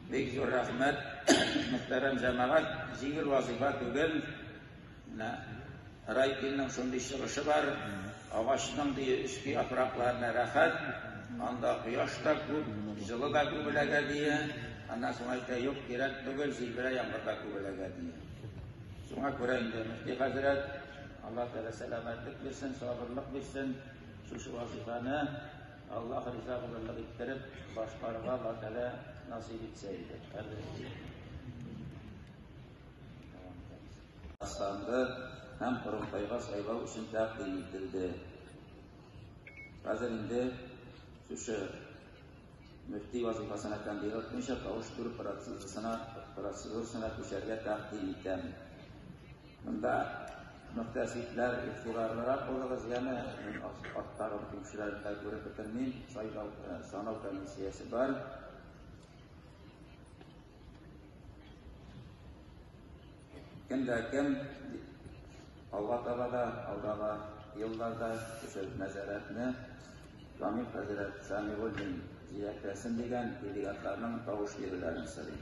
Бик зур рәхмәт, мөхтәрәм җәмәгать, җиңел вазыйфа түгел. Менә Райкинның шундый чыгышы бар, агачның ди өске яфракларына рәхәт, анда кояш та күп, җылы да күбеләгә дия, аннан соң әйтә, юк, кирәк түгел, җилберә яңгырда күбеләгә дия. Шуңа күрә инде мөфти хәзрәт, Аллаһ Тәгалә сәламәтлек бирсен, сабырлык бирсен, шушы вазыйфаны Аллаһ риза булырлык иттереп башкарырга Аллаһ Тәгалә насыйп итсә иде. Астанды һәм Кырымтайга сайлау өчен тәкъдим ителде. Хәзер инде шушы мөфти вазифасына кандидат буенча тавыш бирү процедурасына процедурасына күчәргә тәкъдим итәм. Монда мөхтәсибләр игътибарлырак булыгыз, яме мин арттагы кешеләрне дә күреп бетермим, сайлау, санау комиссиясе бар. Кем дә кем алга таба да, алдагы елларда кеше нәзарәтне Камил хәзрәт Сәмигуллин җиләкләсен дигән делегатларның тавыш бирүләрен сорыйм.